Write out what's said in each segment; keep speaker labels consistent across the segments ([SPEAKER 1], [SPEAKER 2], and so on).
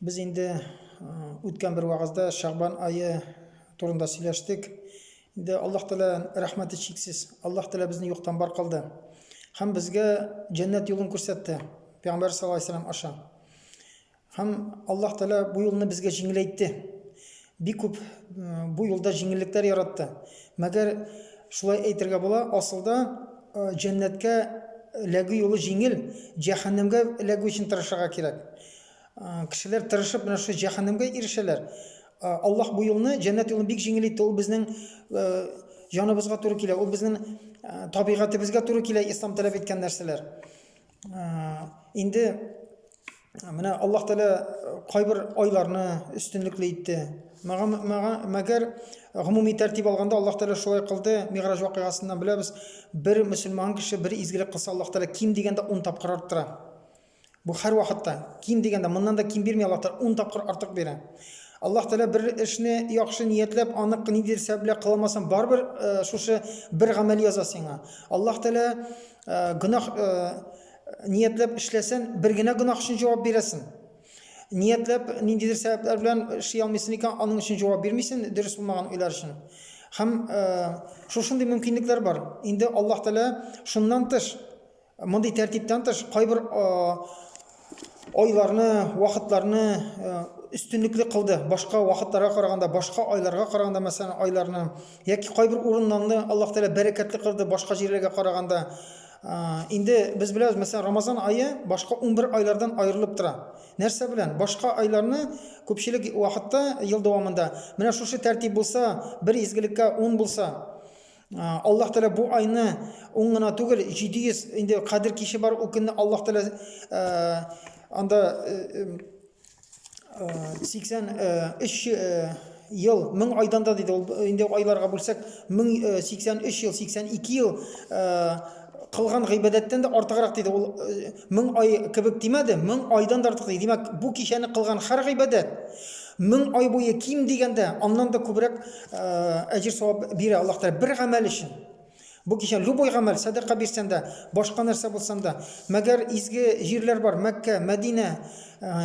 [SPEAKER 1] Без инде үткән бер вагызда Шагбан ае турында сөйләштек. Инде Аллаһ Тәгалә рәхмәте чиксез. Аллаһ Тәгалә безне юктан бар кылды. Һәм безгә җәннәт юлын күрсәтте. Пәйгамбәр саллаллаһу алейһи вәсәлләм аша. Һәм Аллаһ Тәгалә бу юлны безгә җиңеләйтте. Бик күп бу юлда җиңеллекләр яратты. Мәгәр шулай әйтергә була, асылда җәннәткә эләгү юлы җиңел, җәһәннәмгә эләгү өчен тырышырга кирәк. А, Кешеләр тырышып менә шушы җәһәннәмгә ирешәләр. А, Аллаһ бу юлны, җәннәт юлын бик җиңел итте. Ул безнең э, җаныбызга туры килә, ул безнең э, табигатебезгә туры килә ислам таләп иткән нәрсәләр. А, Инде э, менә Аллаһ Тәгалә э, кайбер айларны өстенлекле итте. Мәгә- мәгә- Мәгәр гомуми тәртип алганда Аллаһ Тәгалә шулай кылды. Мигъраҗ вакыйгасыннан беләбез, бер мөселман кеше бер изгелек кылса, Аллаһ Тәгалә ким дигәндә 10 тапкыр арттыра. Бу һәрвакытта, ким дигәндә, моннан да ким бирми Аллаһ Тәгалә, ун тапкыр артык бирә. Аллаһ Тәгалә бер эшне яхшы ниятләп, аны ниндидер сәбәп белән кылалмасаң, барыбер шушы бер гамәл яза сиңа. Аллаһ Тәгалә гөнаһ ниятләп эшләсән, бер генә гөнаһ өчен җавап бирәсен. Ниятләп ниндидер сәбәпләр белән эшли алмыйсың икән, аның өчен җавап бирмисен, дөрес булмаган уйлар өчен. Һәм шушындый мөмкинлекләр бар. Инде Аллаһ Тәгалә шуннан тыш Мондый тәртиптән тыш, кайбер айларны, вакытларны өстенлекле кылды. Башка вакытларга караганда, башка айларга караганда, мәсәлән, айларны яки кайбер урыннарны Аллаһ Тәгалә бәрәкәтле кылды башка җирләргә караганда. Инде без беләбез, мәсәлән, Рамазан ае башка 11 айлардан аерылып тора. Нәрсә белән? Башка айларны күпчелек вакытта ел дәвамында менә шушы тәртип булса, бер изгелеккә 10 булса, Аллаһ Тәгалә бу айны уң гына түгел, 700 инде Кадер киче бар, ул көнне Аллаһ Тәгалә анда 83 ел, 1000 айдан да диде, ул инде айларга бүлсәк, 1083 ел, 82 ел кылган гыйбадәттән дә артыграк диде. Ул Мең ай кебек димәде, мең айдан да артык ди. Димәк, бу кичәне кылган һәр гыйбадәт мең ай буе ким дигәндә аннан да күбрәк әҗер-савап бирә Аллаһ Тәгалә бер гамәл өчен. Бу кичән любой гамәл, сәдака бирсәң дә, башка нәрсә булсаң да, мәгәр изге җирләр бар, Мәккә, Мәдинә,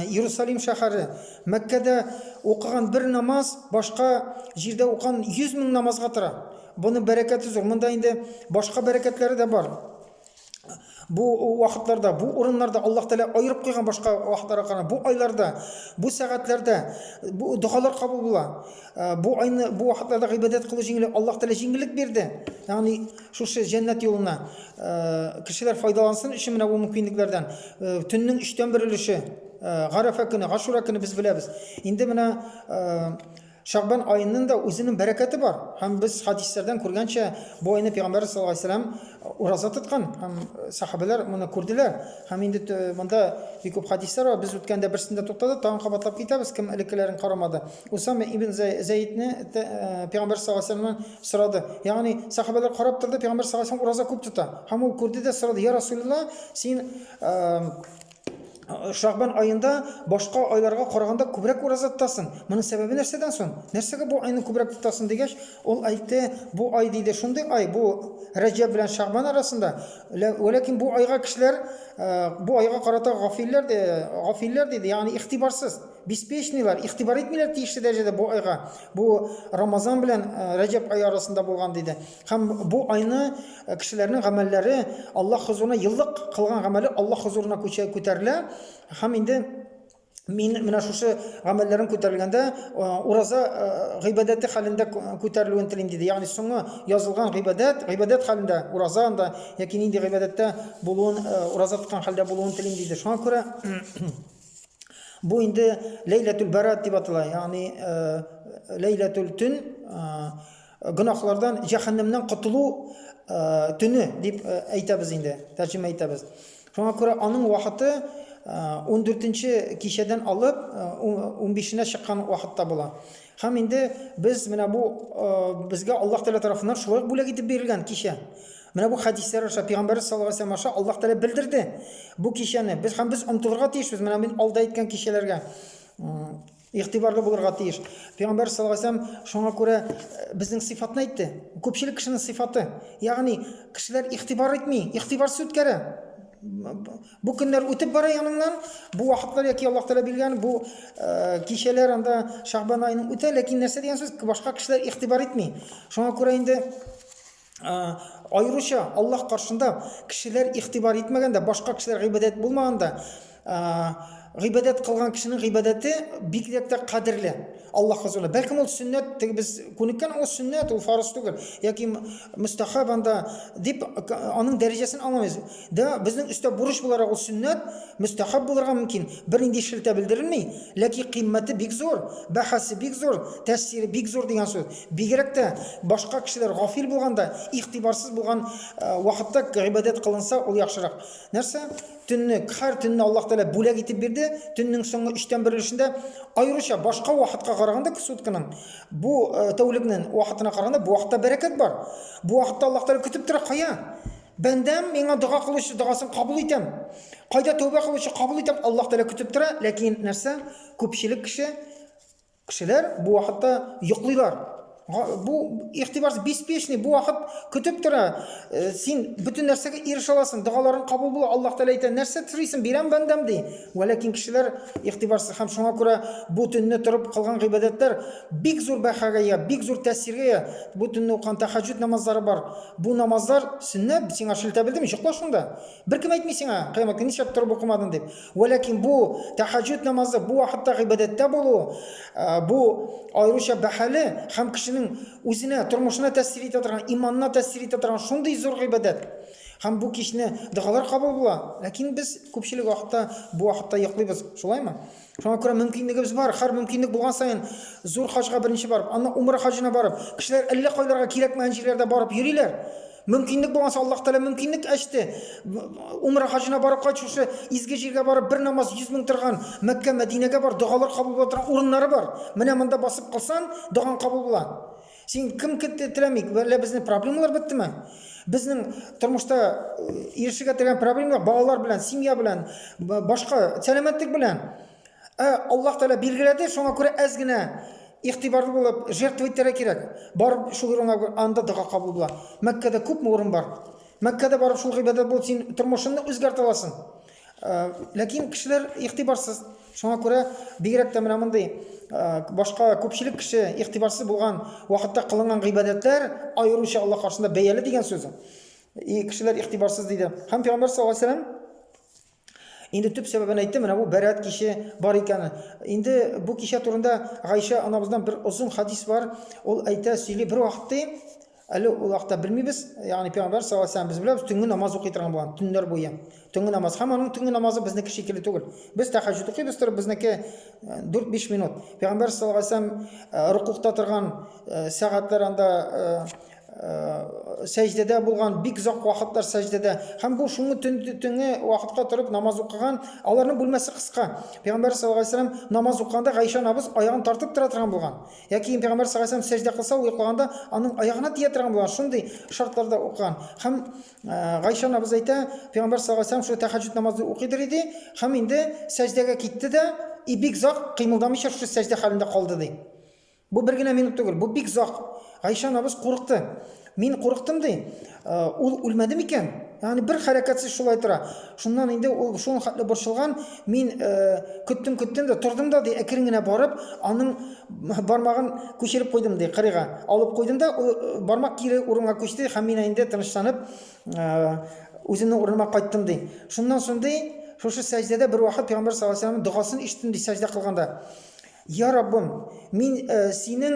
[SPEAKER 1] Иерусалим шәһәре. Мәккәдә укыган бер намаз башка җирдә укыган 100 мең намазга тора. Буның бәрәкәте зур. Монда инде башка бәрәкәтләре дә бар. бу вакытларда, бу урыннарда Аллаһ Тәгалә аерып куйган башка вакытларга караганда, бу айларда, бу сәгатьләрдә бу догалар кабул була. Э, бу айны бу вакытларда гыйбадәт кылу җиңел, Аллаһ Тәгалә җиңеллек бирде. Ягъни шушы җәннәт юлына э, кешеләр файдалансын өчен менә бу мөмкинлекләрдән э, төннең 3 тән 1 өлеше Гарәфә көне, Гашура көне без беләбез. Инде менә Шәгъбан аенын да үзенен бәрәкәте бар. Һәм без хәдисләрдән күргәнчә, бу айны Пәйгамбәрбез саллаллаһу алейһи ва сәлләм ураза тоткан. Һәм сәхабәләр моны күрделәр. Һәм инде монда бик күп хәдисләр бар. Без үткәндә берсендә туктадык, тагын кабатлап китәбез, кем элеккеләрен карамады. Усама ибн Зәйдне Пәйгамбәрбез саллаллаһу алейһи ва сәлләмнән сорады. Ягъни сәхабәләр карап торды, Пәйгамбәрбез саллаллаһу алейһи ва сәлләм ураза күп тота. Һәм ул күрде дә сорады, Я Расуләллаһ, син Шагбан аенда башка айларга караганда күбрәк ураза тотасың. Моның сәбәбе нәрсәдән соң? Нәрсәгә бу айны күбрәк тотасың дигәч, ул әйтте, бу ай диде, шундый ай, бу Рәҗәб белән Шагбан арасында. Ләкин бу айга кешеләр э, бу айга карата гафилләр ди, гафилләр диде, ягъни игътибарсыз, беспечныйлар, игътибар итмиләр тиешле дәрәҗәдә бу айга. Бу Рамазан белән э, Рәҗәб ае арасында булган диде. Һәм бу айны кешеләрнең гамәлләре Аллаһ хозурына еллык кылган гамәле Аллаһ хозурына күчә күтәрелә. Һәм инде мин менә шушы гамәлләрем күтәрелгәндә ураза гыйбадәте хәлендә күтәрелүен телим диде. Ягъни соңы язылган гыйбадәт, гыйбадәт хәлендә ураза анда яки нинди гыйбадәттә булуын, ураза тоткан хәлдә булуын телим диде. Шуңа күрә бу инде Ләйләтүл Барат дип атала. Ягъни Ләйләтүл төн Гөнаһлардан, җәһәннәмнән котылу төне дип әйтәбез инде, тәрҗемә итәбез. Шуңа күрә аның вакыты 14-нче кичәдән алып 15-нә чыккан вакытта була. Һәм инде без менә бу безгә Аллаһ Тәгалә тарафыннан шулай бүләк итеп бирелгән кичә. Менә бу хәдисләр аша пәйгамбәрбез саллаллаһу алейһи вәсәлләм аша Аллаһ Тәгалә белдерде. Бу кичәне без һәм без омтылырга тиешбез менә мин алда әйткән кичәләргә. Игътибарлы булырга тиеш. Пәйгамбәр саллаллаһу алейһи ва сәлләм шуңа күрә безнең сыйфатны әйтте. Күпчелек кешенең сыйфаты. Ягъни кешеләр игътибар итми, игътибарсыз үткәрә. Бу көннәр үтеп бара яныңнан, бу вакытлар яки Аллаһ Тәгалә биргән бу кичәләр анда Шәгъбан аеның үтә, ләкин нәрсә дигән сүз? Башка кешеләр игътибар итми. Шуңа күрә инде аеруча Аллаһ каршында кешеләр игътибар итмәгәндә, башка кешеләр гыйбадәт булмаганда, гыйбадәт кылган кешенең гыйбадәте бигрәк тә кадерле. Аллаһ хозурында. Бәлкем ул сөннәт, теге без күнеккән ул сөннәт, ул фарыз түгел. Яки мустахаб анда дип аның дәрәҗәсен аңламыйбыз. Да, безнең өстә бурыч буларак ул сөннәт, мөстәхәб булырга мөмкин, бернинди шелтә белдерелми, ләки кыйммәте бик зур, бәһасе бик зур, тәэсире бик зур дигән сүз. Бигрәк тә, башка кешеләр гафил булганда, игътибарсыз булган вакытта гыйбадәт кылынса, ул яхшырак. Нәрсә? Төнне, кһәр төнне Аллаһ Тәгалә бүләк итеп бирде, төннең соңгы өчтән бер өлешендә, аеруча башка вакытка караганда, сутканың бу тәүлекнен вакытына караганда, бу вакытта бәрәкәт бар. Бу вакытта Аллаһ Тәгалә көтеп тора, кая? Бәндәм, миңа дога кылучы догасын кабул итәм. Кайда тәүбә кылучы кабул итәм, Аллаһ Тәгалә көтеп тора, ләкин нәрсә? Күпчелек кеше кешеләр бу вакытта йоклыйлар. Бу ихтибарсыз беспечный, бу вакыт көтеп тора. Э, син бөтен нәрсәгә ирешә аласың, догаларың кабул була, Аллаһ Тәгалә әйтә, нәрсә телисең, бирәм бәндәм ди. Вә ләкин кешеләр ихтибарсыз һәм шуңа күрә бу төнне торып кылган гыйбадәтләр Бик зур бәхәгә ия, бик зур тәэсиргә ия. Бу төнне укыган тәхәҗҗүд намазлары бар. Бу намазлар сөннәт, сиңа шелтә белдерми, йокла шунда. Беркем әйтми сиңа, кыямәт көне нишләп торып укымадың дип. Вәләкин бу тәхәҗҗүд намазы, бу вакытта гыйбадәттә булу, бу аеруча бәһале һәм кешенең үзенә, тормышына тәэсир итә торган, иманына тәэсир итә торган шундый зур гыйбадәт. Һәм бу кичне догалар кабул була. Ләкин без күпчелек вакытта бу вакытта йоклыйбыз, шулаймы? Шуңа күрә мөмкинлегебез бар, хәр мөмкинлек булган саен зур хаҗга беренче барып, аннан умра хаҗына барып, кешеләр әллә кайларга кирәкмәгән җирләрдә барып йөриләр. Мөмкинлек булганса Аллаһ Тәгалә мөмкинлек ачты. Умра хаҗына барып кайт, шушы изге җиргә барып бер намаз 100 мең торган Мәккә, Мәдинәгә бар, догалар кабул була торган урыннары бар. Менә монда басып кылсан, догаң кабул була. Син кем теләмик? Әллә безнең проблемалар беттеме? Безнең тормышта ирешергә теләгән проблемалар балалар белән, семья белән, башка сәламәтлек белән. Ә Аллаһ Тәгалә билгеләде, шуңа күрә әз генә игътибарлы булып жертва итәргә кирәк. Барып шул урынга анда дога кабул була. Мәккәдә күпме урын бар? Мәккәдә барып шул гыйбадәт булып син тормышыңны үзгәртә аласың. Ләкин кешеләр игътибарсыз. Шуңа күрә бигрәк тә менә мондый башка күпчелек кеше игътибарсыз булган вакытта кылынган гыйбадәтләр аеруча Аллаһ каршында бәяле дигән сүз. И кешеләр игътибарсыз диде. Һәм Пәйгамбәр саллаллаһу алейһи вәсәлләм инде төп сәбәбен әйтте, менә бу бәрәт киче бар икән. Инде бу кичә турында Гайша анабыздан бер озын хадис бар. Ул әйтә, сөйли, бер вакытта Әле ул вакытта белмибез, ягъни пәйгамбәр саллаллаһу алейһи ва сәлләм без беләбез, төнге намаз укый торган булган, төннәр буе. Төнге намаз һәм аның төнге намазы безнеке шикелле түгел. Без тәһәҗҗүд укыйбыз торып, безнеке 4-5 э, минут. Пәйгамбәр саллаллаһу алейһи ва сәлләм э, рукукта торган э, сәгатьләр анда сәҗдәдә булган бик озак вакытлар сәҗдәдә һәм бу шуңы төн төнге вакытка торып намаз укыган аларның бүлмәсе кыска пәйгамбәр саллаллаху алейһи ва сәлләм намаз укыганда гайшә набыз аягын тартып тора торган булган Йә кием пәйгамбәр саллаллаһу сәҗдә кылса, ул йоклаганда аның аягына тия торган булган, шундый шартларда укыган. Һәм Гайша анабыз әйтә, пәйгамбәр саллаллаһу алейһи шул тәһәҗҗүд намазы укыйдыр иде, һәм инде сәҗдәгә китте дә, и бик зак кыймылдамыйча шул сәҗдә хәлендә калды ди. Бу бер генә минут түгел, бу бик зак. Гайша анабыз курыкты. Мин курыктым ди. Ул үлмәде микән? Ягъни бер хәрәкәтсез шулай тора. Шуннан инде ул шуның хәтле борчылган, мин көттем, көттем дә, тордым да, ди, әкрен генә барып, аның бармагын күчереп куйдым, ди, кырыйга. Алып куйдым да, ул бармак кире урынга күчте, һәм мин инде тынычланып, үземнең урыныма кайттым, ди. Шуннан соң, ди, шушы сәҗдәдә бер вакыт Пәйгамбәр саллаллаһу алейһи ва сәлләмнең догасын ишеттем, ди, сәҗдә кылганда. Я Раббым, мин синең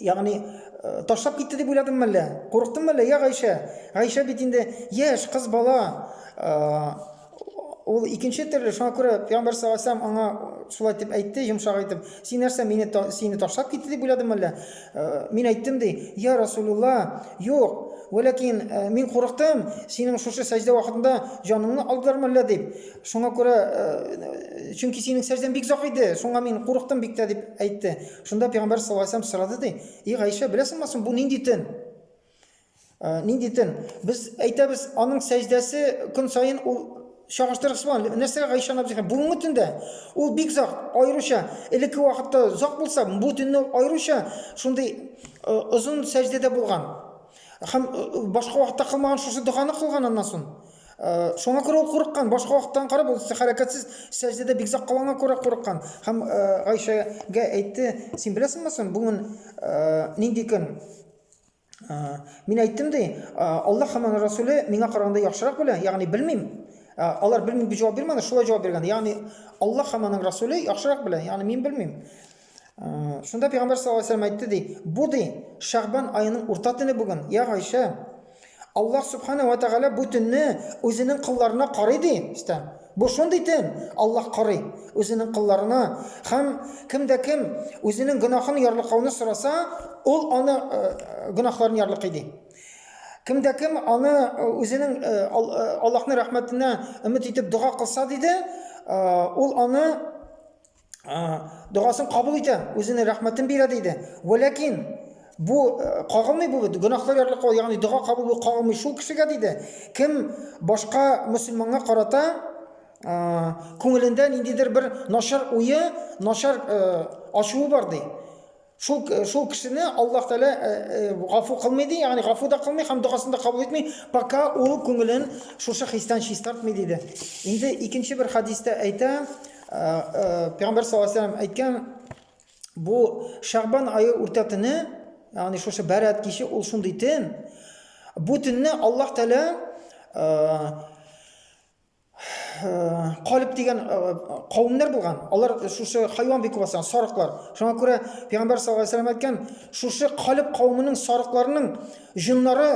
[SPEAKER 1] Ягъни э, ташлап китте дип уйладым әллә? Курыктым әллә? Я Гайшә. Гайшә бит инде яшь кыз бала. Э, ул икенче төрле, шуңа күрә Пәйгамбәр саллаллаху аңа шулай дип әйтте, йомшак итеп. Син нәрсә, мине сине ташлап китте дип уйладым әллә? Э, мин әйттем ди, я Расулулла, юк. Вәләкин мин курыктым, синең шушы сәҗдә вакытында җаныңны алдылармы әллә дип. Шуңа күрә чөнки синең сәҗдәң бик зак иде, шуңа мин курыктым бик тә дип әйтте. Шунда пәйгамбәр саллаллаһу алейһи вәсәлләм сорады ди, и Гайшә, беләсеңме соң бу нинди төн? Ә, нинди төн? Без әйтәбез, аның сәҗдәсе көн саен ул чагыштырыгыз белән нәрсәгә Гайшә апа дигән? Бүгенге төндә ул бик зак, аеруча элекке вакытта зак булса, бу төнне аеруча шундый озын сәҗдәдә булган. Һәм башка вакытта кылмаган шушы доганы кылган аннан соң. Шуңа күрә ул курыккан, башка вакыттан карап ул хәрәкәтсез сәҗдәдә бик озак калганга күрә курыккан. Һәм Гайшәгә әйтте, син беләсеңме соң, бүген нинди көн? Мин әйттем ди, Аллаһ һәм аның Расуле миңа караганда яхшырак белә, ягъни белмим. Алар белмим дип җавап бирмәде, шулай җавап биргән. Ягъни Аллаһ һәм аның Расуле яхшырак белә, ягъни мин белмим. Шунда пәйгамбәр саллаллаһу алейһи ва сәлләм әйтте ди, бу ди Шәгъбан аеның урта төне бүген, я Гайшә. Аллаһ субхана ва тәгалә бу төнне үзенең кылларына карый ди. Истә. Бу шундый төн, Аллаһ карый үзенең кылларына. Хәм кем дә кем үзенең гөнаһын ярлыкауны сораса, ул аны гөнаһларын ярлыкый ди. Кем дә кем аны үзенең Аллаһның рәхмәтенә өмет итеп дога кылса диде, ул аны догасын кабул итә, үзенең рәхмәтен бирә диде. Вәләкин бу кагылмый бу бит гөнаһлар ярлыкка, ягъни дога кабул бу кагылмый шул кешегә диде. Кем башка мусульманга карата күңелендә ниндидер бер начар уе, начар ачуы бар ди. Шул, шул кешене Аллаһ Тәгалә гафу кылмый ди, ягъни гафу да кылмый һәм дугасын да кабул итми, пока ул күңелен шушы хистән чистартмый диде. Инде икенче бер хадистә әйтә, Пәйгамбәр саллаллаһу алейһи ва әйткән, бу Шәгъбан ае урта төне, ягъни шушы Бәрәт киче ул шундый төн. Бу төнне Аллаһ Тәгалә калиб дигән кавемнәр булган. Алар шушы хайван бик күп сарыклар. Шуңа күрә Пәйгамбәр саллаллаһу алейһи әйткән, шушы калиб кавемының сарыкларының җыннары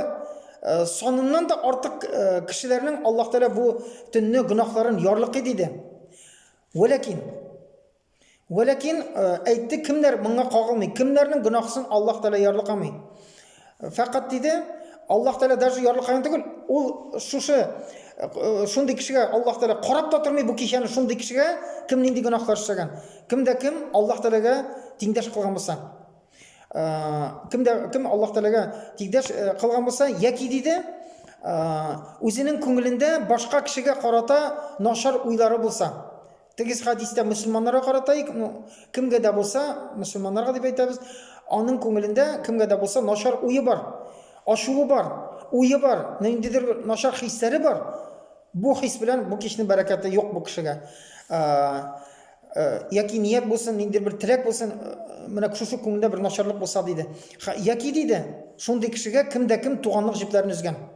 [SPEAKER 1] саныннан да артык кешеләрнең Аллаһ Тәгалә бу төнне гөнаһларын ярлыкый диде. Вәләкин Вәләкин э, әйтте, кемнәр моңа кагылмый, кемнәрнең гөнаһысын Аллаһ Тәгалә ярлыкамый. Э, фәкать диде, Аллаһ Тәгалә даже ярлыкаган түгел, ул шушы э, шундый кешегә Аллаһ Тәгалә карап та тормый бу кичәне шундый кешегә, кем нинди гөнаһлар эшләгән. Кемдә кем Аллаһ Тәгаләгә тиңдәш кылган булса. Кемдә кем Аллаһ Тәгаләгә тиңдәш кылган булса, яки диде, үзенең күңелендә башка кешегә карата начар уйлары булса. Тегез хадистә мөселманнарга карата ик, ну, кемгә дә булса, мөселманнарга дип әйтәбез, аның күңелендә кемгә дә булса начар уе бар, ачуы бар, уе бар, ниндидер бер начар хисләре бар. Бу хис белән бу кичнең бәрәкәте юк бу кешегә. Ә, ә, яки ният булсын, ниндидер бер теләк булсын, менә шушы күңелдә бер начарлык булса диде. Яки диде, шундый кешегә кем дә кем туганлык җепләрен өзгән.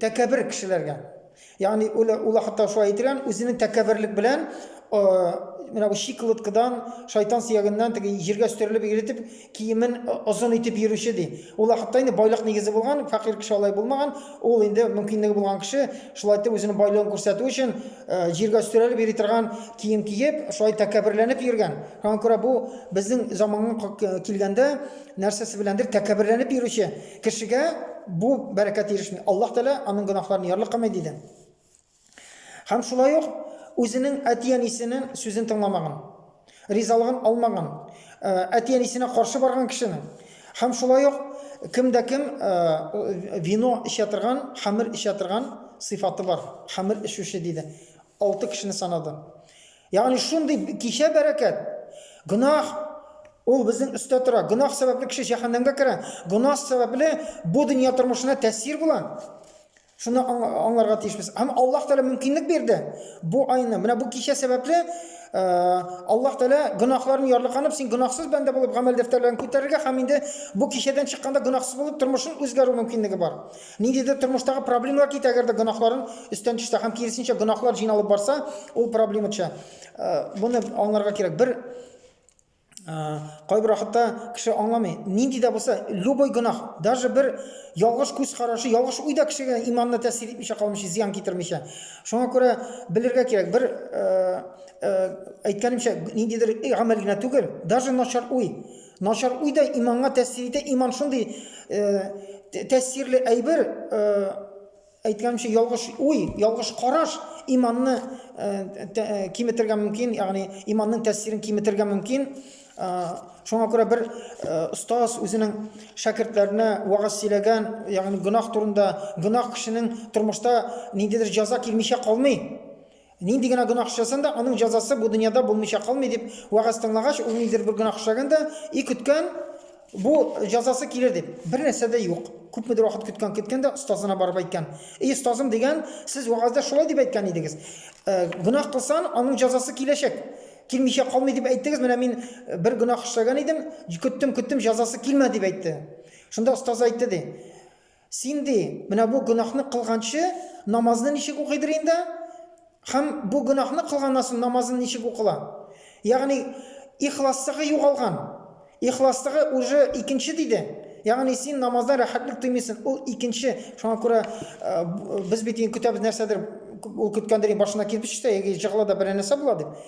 [SPEAKER 1] тәкәбер кешеләргә. Ягъни ул ул хәтта шулай әйтелгән, үзенең тәкәберлек белән менә бу шикылыткыдан, шайтан сөягеннән теге җиргә стерелеп иретеп, киемен озын итеп йөрүче ди. Ул хәтта инде байлык нигезе булган, фәкыйрь кеше алай булмаган. Ул инде мөмкинлеге булган кеше, шулай итеп үзенең байлыгын күрсәтү өчен җиргә стерелеп йөри торган кием киеп, шулай тәкәберләнеп йөргән. Шуңа күрә бу безнең заманга килгәндә нәрсәсе беләндер тәкәберләнеп йөрүче Кешегә бу бәрәкәт ирешми. Аллаһ Тәгалә аның гөнаһларын ярлыкамый, диде. Һәм шулай ук үзенең әти-әнисенең сүзен тыңламаган, ризалыгын алмаган, э, әти-әнисенә каршы барган кешенең һәм шулай ук кем дә кем э, вино эчә торган, хәмер эчә торган сыйфаты бар. Хәмер эчүче диде. Алты кешене санады. Ягъни шундый кичә бәрәкәт. Гөнаһ ул безнең өстә тора. Гөнаһ сәбәпле кеше җәһәннәмгә керә. Гөнаһ сәбәпле бу дөнья тормышына тәэсир була. Шуны аңларга тиешбез. Һәм Аллаһ Тәгалә мөмкинлек бирде. Бу айны, менә бу кичә сәбәпле э, Аллаһ Тәгалә гөнаһларын ярлыканып, син гөнаһсыз бәндә булып гамәл дәфтәрләрен күтәрергә һәм инде бу кичәдән чыкканда гөнаһсыз булып тормышын үзгәрү мөмкинлеге бар. Ниндидер тормыштагы проблемалар китә, әгәр дә гөнаһларын өстән төшсә һәм киресенчә гөнаһлар җыйналып барса, ул проблема төшә. Буны аңларга кирәк. Бер кайбер вакытта кеше аңламый. Нинди дә булса, любой гөнаһ, даже бер ялгыш күз карашы, ялгыш уй да кешегә иманны тәэсир итмичә калмыйча, зыян китермичә. Шуңа күрә белергә кирәк. Бер әйткәнемчә, ниндидер гамәл генә түгел, даже начар уй, Начар уй да иманга тәэсир итә. Иман шундый э, тәэсирле әйбер, э, әйткәнемчә, ялгыш уй, ялгыш караш иманны э, э, киметергә мөмкин, ягъни иманның тәэсирен киметергә мөмкин. Шуңа күрә бер остаз үзенең шәкертләренә вагаз сөйләгән, ягъни гөнаһ турында, гөнаһ кешенең тормышта ниндидер җәза килмичә калмый. Нинди генә гөнаһ эшләсәң дә, аның җәзасы бу дөньяда булмыйча калмый, дип вәгазь тыңлагач, ул ниндидер бер гөнаһ эшләгән дә, и көткән, бу җәзасы килер дип. Бер нәрсә дә юк. Күпмедер вакыт көткән, көткән дә остазына барып әйткән. И остазым, дигән, сез вәгазьдә шулай дип әйткән идегез. Э, гөнаһ кылсан, аның җәзасы киләчәк. Килмичә калмый дип әйттегез, менә мин э, бер гөнаһ эшләгән идем, көттем, көттем, җәзасы килмәде дип әйтте. Шунда остаз әйтте, ди. Син, ди, менә бу гөнаһны кылганчы, намазны ничек укыйдыр инде? Һәм бу гөнаһны кылганнан соң намазын ничек укыла? Ягъни, ихласлыгы югалган. Ихласлыгы уже икенче, диде. Ягъни, син намаздан рәхәтлек тоймыйсың, ул икенче. Шуңа күрә без бит инде көтәбез нәрсәдер, ул көткәндер, башына кирпеч төшә яки җыгыла да берәр нәрсә була дип.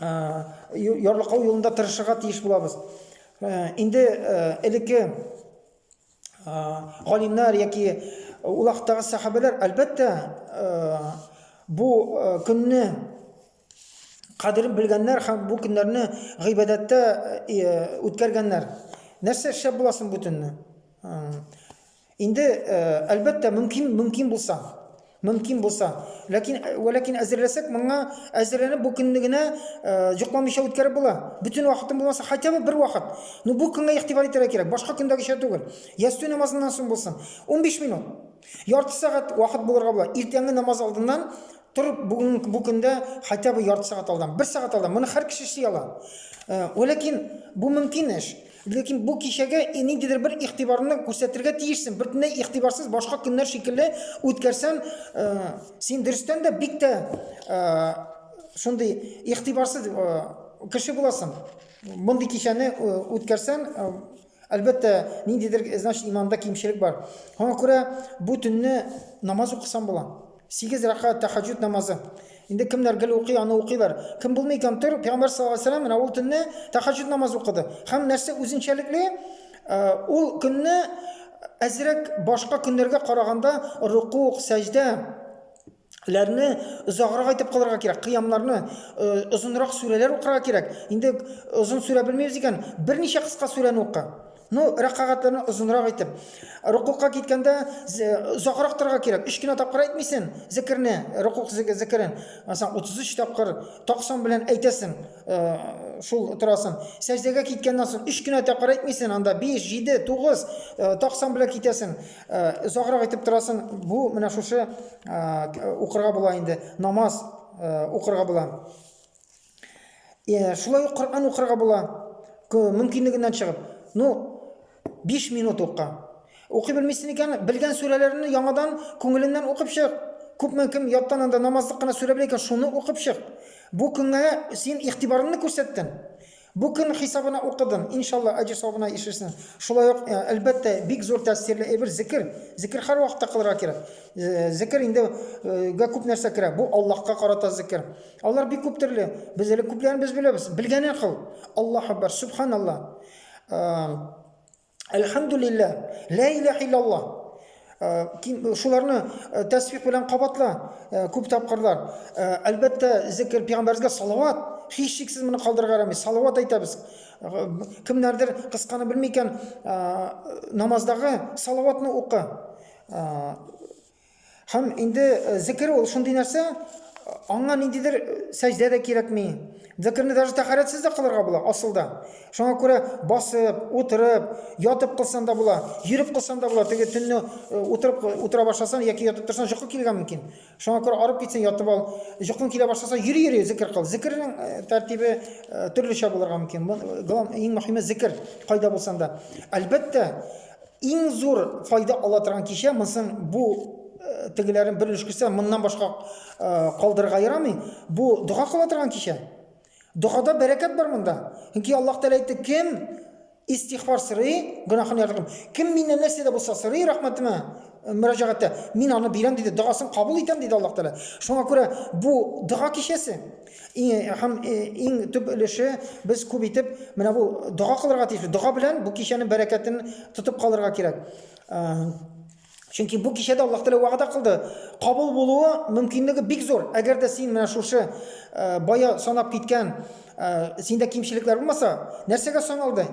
[SPEAKER 1] ярлыкау юлында тырышырга тиеш булабыз. Инде элекке галимнәр яки ул хактагы сахабәләр әлбәттә бу көнне кадерен белгәннәр һәм бу көннәрне гыйбадәттә үткәргәннәр. Нәрсә эшләп буласын бу төнне? Инде, әлбәттә, мөмкин, мөмкин булса, мөмкин булса. Ләкин, вә ләкин әзерләсәк, моңа әзерләнеп бу көнне генә җокламыйча үткәреп була. Бөтен вакытын булмаса, хотя бы бер вакыт. Ну, бу көнгә игътибар итәргә кирәк, башка көндәгечә түгел. Ястү намазыннан соң булсын. 15 минут. Ярты сәгать вакыт булырга була. Иртәнге намаз алдыннан торып, бүген бу көндә хотя бы ярты сәгать алдан, бер сәгать алдан. Моны һәр кеше эшли ала. Вә ләкин бу мөмкин эш. Ләкин бу кичәгә ниндидер бер игътибарны күрсәтергә тиешсең. Бөтенләй игътибарсыз башка көннәр шикелле үткәрсәң, э, син дөрестән дә бик тә э, шундый игътибарсыз э, кеше буласың. Мондый кичәне э, үткәрсәң, э, әлбәттә, ниндидер, значит, иманда кимчелек бар. Шуңа күрә бу төнне намаз укысаң була. Сигез рәкәгать тәхәҗҗүд намазы. Инде кемнәр гел укый, аны укыйлар. Кем булмый икән, тор, пәйгамбәр саллаллаһу алейһи ва сәлләм менә ул төнне тәхәҗҗүд намазы укыды. Һәм нәрсә үзенчәлекле, ул көнне әзрәк башка көннәргә караганда рукук, сәҗдә ләрне озаграк итеп кылырга кирәк, кыямнарны, озынрак сүрәләр укырга кирәк. Инде озын сүрә белмибез икән, берничә кыска сүрәне укы. Ну, рәкагатьләрне озынрак итеп. Рукукка киткәндә озакрак торырга кирәк. 3 кенә тапкыр әйтмисең зикерне, рукук зикерен. Мәсәлән, 33 тапкыр таксан белән әйтәсең, шул торасың. Сәҗдәгә киткәннән соң 3 кенә тапкыр әйтмисең, анда 5, 7, 9 таксан белән китәсең. Озакрак итеп торасың. Бу менә шушы укырга була инде. Намаз укырга була. Э, шулай ук Коръән укырга була, мөмкинлегеннән чыгып. Ну, 5 минут укы. Укый белмисең икән, белгән сүрәләрне яңадан күңеленнән укып чык. Күпме кем яттан анда намазлык кына сүрә белә икән, шуны укып чык. Бу көнгә син игътибарыңны күрсәттең. Бу көн хисабына укыдың. Иншалла, әҗер савабына ишерсең. Шулай ук, э, әлбәттә, бик зур тәэсирле әйбер зикр. Зикр һәр вакытта кылырга кирәк. Э, зикр инде гә күп нәрсә керә. Бу Аллаһка карата зикр. Алар бик күп төрле. Без әле күпләрен без беләбез. Белгәнен кыл. Аллаһ Акбар, Субханалла. Әлхәмдулилла, Ла илаһ иллалла. Шуларны тәсбих белән кабатла күп тапкырлар. Әлбәттә, зикр пәйгамбәргә салават. Һич шиксез моны калдырырга ярамый. Салават әйтәбез. Кемнәрдер кысканы белми икән, намаздагы салаватны укы. Һәм инде зикер ул шундый нәрсә, аңа ниндидер сәҗдә дә кирәкми. Зикерне даже тәхарәтсез дә кылырга була, асылда. Шуңа күрә басып, утырып, ятып кылсан да була, йөреп кылсан да була. Теге төнне утырып утыра башласан яки ятып торсан җокы килгән мөмкин. Шуңа күрә арып китсен, ятып ал. Җокың килә башласа, йөри-йөри зикер кыл. Зикернең тәртибе төрлечә булырга мөмкин. Иң мөһиме зикер, кайда булсан да. Әлбәттә, Иң зур файда ала торган кичә, монысын бу тегеләрен бер өлеш күрсә, моннан башка калдырырга ярамый. Бу дога кыла торган кичә. Догада бәрәкәт бар монда. Чөнки Аллаһ Тәгалә әйтте, кем истихбар сорый, гөнаһын ярдәм. Кем миннән нәрсә дә булса сорый, рәхмәтемә мөрәҗәгатьтә, мин аны бирәм диде, догасын кабул итәм диде Аллаһ Тәгалә. Шуңа күрә бу дога кичәсе. Иң һәм иң төп өлеше без күп итеп менә бу дога кылырга тиеш. Дога белән бу кичәнең бәрәкәтен тотып калырга кирәк. Чөнки бу кичәдә Аллаһ Тәгалә вәгъдә кылды, кабул булуы мөмкинлеге бик зур. Әгәр дә син менә шушы бая санап киткән синдә кимчелекләр булмаса, нәрсәгә саналды?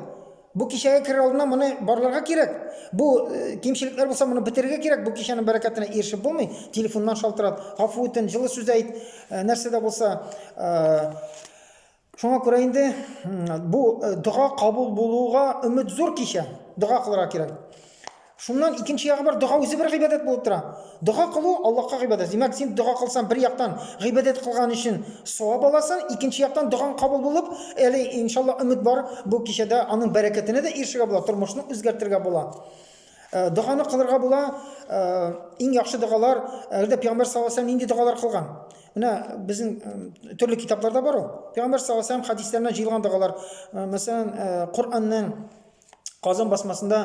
[SPEAKER 1] Бу кичәгә керер алдыннан моны барларга кирәк. Бу э, кимчелекләр булса моны бетерергә кирәк. Бу кичәнең бәрәкәтенә ирешеп булмый. Телефоннан шалтырат, гафу үтен, җылы сүз әйт, э, нәрсә дә булса. Э, шуңа күрә инде бу дога кабул булуга өмет зур кичә. Дога кылырга кирәк. Шуннан икенче ягы бар, дога үзе бер гыйбадәт булып тора. Дога кылу Аллаһка гыйбадәт. Димәк, син дога кылсаң, бер яктан гыйбадәт кылган өчен савап аласың, икенче яктан догаң кабул булып, әле иншалла өмет бар, бу кичәдә аның бәрәкәтенә дә ирешергә була, тормышны үзгәртергә була. Э, доганы кылырга була, э, иң яхшы догалар, әгәр дә пәйгамбәр саллаллаху алейһи нинди догалар кылган? Менә безнең э, төрле китапларда бар ул. Пәйгамбәр саллаллаху алейһи хәдисләренә җыелган догалар, мәсәлән, Коръәннең Казан басмасында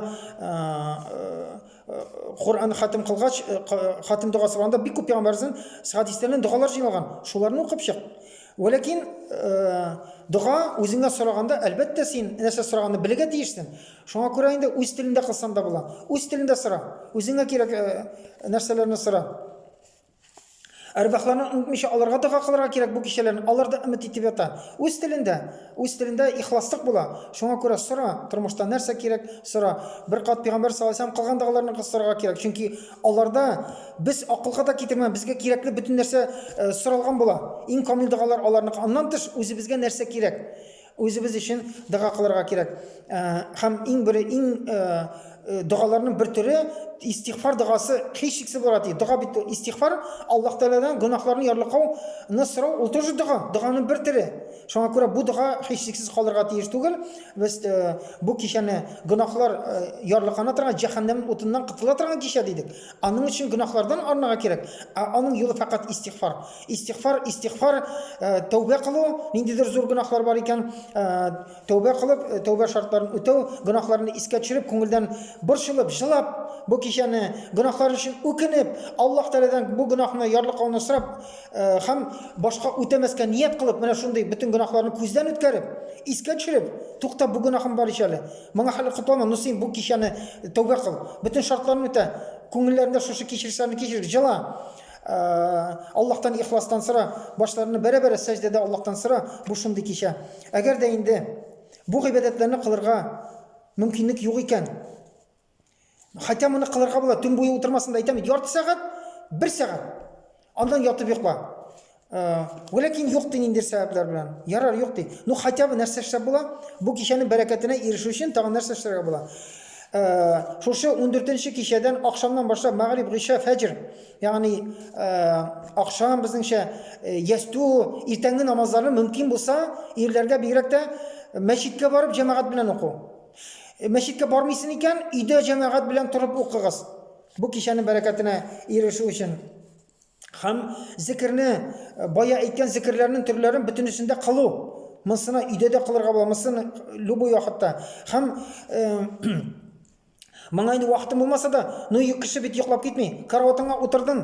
[SPEAKER 1] Коръән хатим кылгач, хатим догасы кылганда бик күп пәйгамбәрнең хадисләреннән догалар җыйналган. Шуларны укып чык. Вәләкин дога үзеңә сораганда, әлбәттә син нәрсә сораганны белергә тиешсең. Шуңа күрә инде үз телендә кылсаң да була. Үз телендә сора. Үзеңә кирәк нәрсәләрне сора. Әрвахларны онытмыйча аларга дога кылырга кирәк бу кичәләрне. Алар да өмет итеп ята. Үз телендә, үз телендә ихласлык була. Шуңа күрә сора, тормышта нәрсә кирәк, сора. Бер кат пәйгамбәр саллаллаһу алейһи кылган догаларны кыстырырга кирәк. Чөнки аларда без акылга да китермә, безгә кирәкле бөтен нәрсә э, соралган була. Иң камил догалар аларныкы. Аннан тыш үзебезгә нәрсә кирәк? Үзебез өчен дога кылырга кирәк. Һәм иң бер иң догаларның бер төре истигъфар догасы һичшиксез бара ди. Дога бит истигъфар Аллаһ Тәгаләдән гөнаһларны ярлыкау, сорау ул тоже дога, доганың бер төре. Шуңа күрә бу дога һичшиксез калырга тиеш түгел. Без бу кичәне гөнаһлар ярлыкана торган җәһәннәм утыннан котыла торган кичә дидек. Аның өчен гөнаһлардан арынырга кирәк. Ә аның юлы фәкать истигъфар. Истигъфар, истигъфар, тәүбә кылу, ниндидер зур гөнаһлар бар икән, тәүбә кылып, тәүбә шартларын үтәү, гөнаһларны искә төшереп, күңелдән борчылып, җылап, бу кичәне гөнаһлар өчен үкенеп, Аллаһ Тәгаләдән бу гөнаһны ярлыкауны сорап һәм башка үтәмәскә ният кылып, менә шундый бөтен гөнаһларны күздән үткәреп, искә төшереп, тукта, бу гөнаһым бар ич әле. Моңа хәле котлама, ну син бу кичәне тәүбә кыл, бөтен шартларны үтә, күңелләрендә шушы кичерешләрне кичер, җыла. Аллаһтан ихластан сора, башларны бәрә-бәрә сәҗдәдә Аллаһтан сора, бу шундый кичә. Әгәр дә инде бу гыйбадәтләрне кылырга мөмкинлек юк икән, хәтта моны кылырга була, төн буе утырмасын да әйтәм, ярты сәгать, бер сәгать. Андан ятып йокла. Вәләкин юк ди ниндидер сәбәпләр белән. Ярар, юк ди. Ну, хәтта бы нәрсә эшләп була? Бу кичәнең бәрәкәтенә ирешү өчен тагын нәрсә эшләргә була? Шушы 14 нче кичәдән, акшамнан башлап, мәгъриб, гыйшә, фәҗр Ягъни, ахшам безнеңчә ястү, иртәнге намазларны мөмкин булса, ирләргә бигрәк тә мәчеткә барып җәмәгать белән уку. Мәчеткә бармыйсын икән, өйдә җәмәгать белән торып укыгыз. Бу кичәнең бәрәкәтенә ирешү өчен һәм зикерне бая әйткән зикерләрнең төрләрен бөтенесендә кылу. Монсына өйдә дә кылырга була, монсын любой вакытта. Һәм Моңа инде вакытым булмаса да, ну йөк кеше бит йоклап китми. Караватыңа утырдың,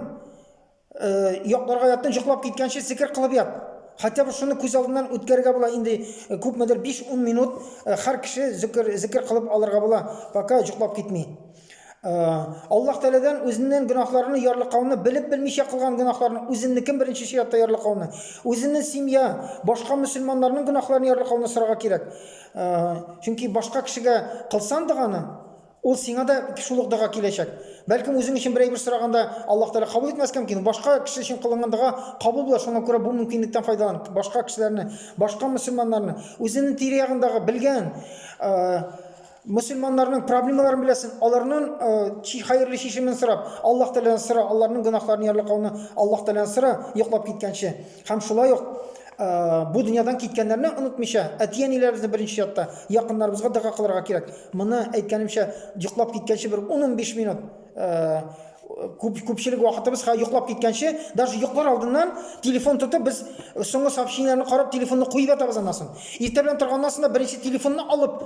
[SPEAKER 1] э, якларга яттың, йоклап киткәнче сикер кылып ят. Хотя бы шуны күз алдыннан үткәрергә була инде э, күпмедер 5-10 минут э, һәр кеше зикер, зикер кылып алырга була, пока йоклап китми. Э, Аллаһ Тәгаләдән үзеннән гөнаһларны ярлыкауны, белеп белмичә кылган гөнаһларны, үзеннекен беренче чиратта ярлыкауны, үзеннең семья, башка мөселманнарның гөнаһларын ярлыкауны сорарга кирәк. Чөнки башка кешегә кылсан доганы, ул сиңа да шул ук дога киләчәк. Бәлкем үзең өчен берәй бер сораганда Аллаһ Тәгалә кабул итмәскә мөмкин. Башка кеше өчен кылынган дога кабул була, шуңа күрә бу мөмкинлектән файдалан. Башка кешеләрне, башка мөселманнарны, үзенең тирә-ягындагы белгән мөселманнарның проблемаларын беләсен, аларның чи хәерле чишемен сорап, Аллаһ Тәгаләдән сора, аларның гөнаһларын ярлыкауны Аллаһ Тәгаләдән сора, йоклап киткәнче. Һәм шулай ук бу дөньядан киткәннәрне онытмыйча, әти-әниләребезне беренче ятта, якыннарыбызга дога кылырга кирәк. Моны әйткәнемчә, йоклап киткәнче бер 10-15 минут күп күпчелек вакытыбыз ха йоклап киткәнче, даже йоклар алдыннан телефон тотып без соңгы сообщениеләрне карап телефонны куеп ятабыз аннан соң. Иртә белән торганнан соң да беренче телефонны алып,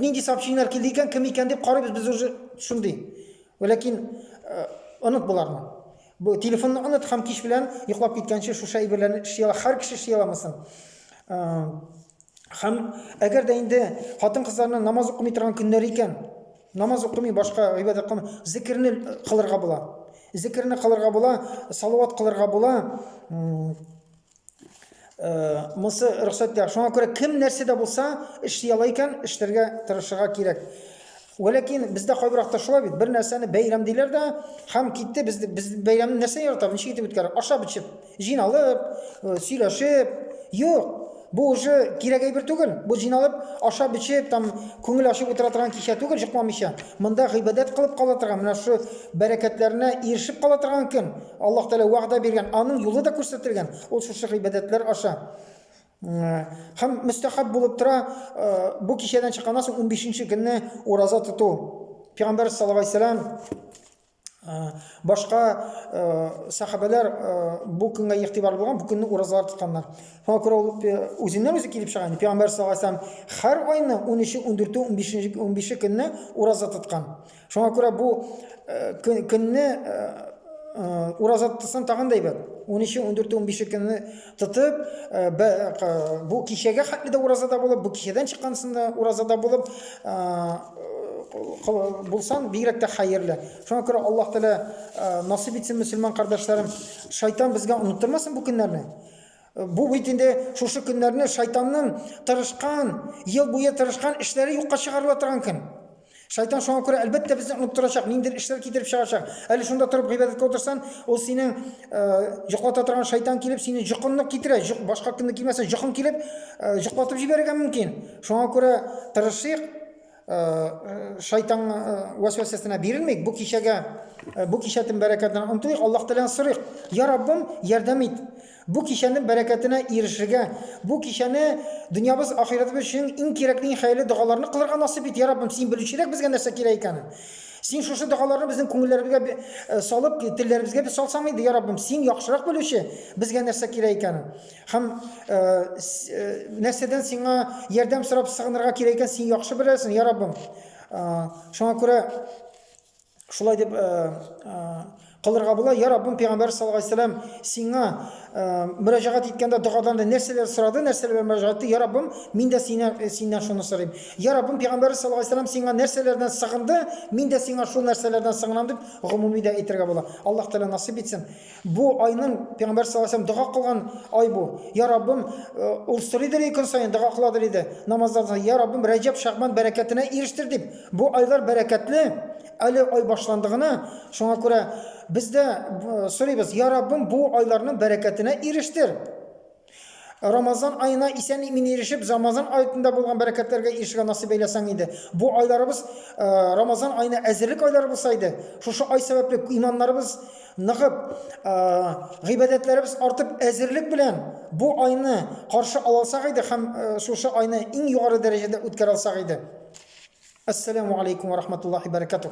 [SPEAKER 1] нинди сообщениеләр килде икән, кем икән дип карыйбыз без уже шундый. Ләкин оныт боларны. Бу телефонны оныт һәм кич белән йоклап киткәнче шушы әйберләрне эшли ала. Һәр кеше эшли аламы соң? Һәм әгәр дә инде хатын-кызларның намаз укымый торган көннәре икән, намаз укымый, башка гыйбадәт кылмый, зикерне кылырга була. Зикерне кылырга була, салават кылырга була. Э, монысы рөхсәт тә шуңа күрә кем нәрсә дә булса эшли ала икән эшләргә тырышырга кирәк Вәләкин бездә кайбыракта шулай бит бер нәрсәне бәйрәм диләр дә һәм китте без без бәйрәмне нәрсә яратабыз ничек итеп үткәрә ашап эчеп җыйналып э, сөйләшеп юк бу уже кирәк әйбер түгел бу җыйналып ашап эчеп там күңел ачып утыра торган кичә түгел җыкламыйча монда гыйбадәт кылып кала торган менә шушы бәрәкәтләренә ирешеп кала торган көн Аллаһ Тәгалә вәгъдә биргән, аның юлы да күрсәтелгән. Ул шушы гыйбадәтләр аша һәм мөстәхәб булып тора, бу кичәдән чыкканнан соң 15-нче көнне ураза тоту. Пәйгамбәр саллаллаху алейһи вәсәлам башка сахабәләр бу көнгә игътибарлы булган, бу көнне уразалар тотканнар. Шуңа күрә ул үзеннән үзе килеп чыга. Пәйгамбәр саллаллаху алейһи вәсәлам һәр айны 13-е, 14-е, 15-е, 15-е көнне ураза тоткан. Шуңа күрә бу э, көнне э, э, ураза тотсаң тагын да әйбәт. 13, 14, 15 көнне тотып, бу кичәгә хәтле дә уразада булып, бу кичәдән чыккансын да уразада булып булсаң, бигрәк тә хәерле. Шуңа күрә Аллаһ Тәгалә насыйп итсен, мөселман кардәшләрем. Шайтан безгә оныттырмасын бу көннәрне. Бу бит инде шушы көннәрне шайтанның тырышкан, ел буе тырышкан эшләре юкка чыгарыла торган көн. Шайтан шуңа күрә әлбәттә безне оныттырачак, ниндидер эшләр китереп чыгачак. Әле шунда торып гыйбадәткә утырсан, ул синең җоклата э, торган шайтан килеп сине җокынны китерә, җок, башка көнне килмәсә җокын килеп э, җоклатып җибәрергә мөмкин. Шуңа күрә тырышыйк, э, шайтан вәсвәсәсенә бирелмик. Бу кичәгә, бу кичәтен бәрәкәтен онтыйк, Аллаһ Тәгаләдән сорыйк. Я Раббым, ярдәм ит. Бу кичәнең бәрәкәтенә ирешергә, бу кичәне дөньябыз, ахирәтебез өчен иң кирәкле, иң хәерле догаларны кылырга насыйп ит, я Раббым, Син белүчерәк безгә нәрсә кирәк икәнен. Син шушы догаларны безнең күңелләребезгә бе- э, салып, телләребезгә бе салсаң иде, я Раббым, Син яхшырак белүче безгә нәрсә кирәк икәнен. Һәм э, с- э, нәрсәдән Сиңа ярдәм сорап сыгынырга кирәк икәнен Син яхшы беләсең, я Раббым. Э, Шуңа күрә Шулай дип э, э, кылырга була. Я Раббым пәйгамбәр саллаллаху алейһи вәсәлләм сиңа э, мөрәҗәгать иткәндә догада нәрсәләр сорады, нәрсәләр белән мөрәҗәгать итте? Я Раббым, мин дә синнән э, синнән шуны сорыйм. Я Раббым пәйгамбәр саллаллаху алейһи вәсәлләм сиңа нәрсәләрдән сыгынды? Мин дә сиңа шул нәрсәләрдән сыгынам дип гомуми дә әйтергә була. Аллаһ Тәгалә насыйп итсен. Бу айның пәйгамбәр саллаллаһу алейһи дога кылган ай бу. Я Раббым, э, ул сорый диде көн саен дога кыла диде. Намазларда я Раббым Рәҗәб, Шәгъбан бәрәкәтенә ирештер дип. Бу айлар бәрәкәтле. Әле ай башланды гына. Шуңа күрә без дә э, сорыйбыз, я Раббым, бу айларның бәрәкәтенә ирештер. Рамазан аена исән-имин ирешеп, Замазан аетында булган бәрәкәтләргә ирешергә насыйп әйләсәң иде. Бу айларыбыз Рамазан аена әзерлек айлары булса иде. Шушы ай сәбәпле иманнарыбыз ныгып, гыйбадәтләребез артып, әзерлек белән бу айны каршы ала алсак иде һәм шушы айны иң югары дәрәҗәдә үткәрә алсак иде. Ассаламу алейкум ва рахматуллахи баракатух.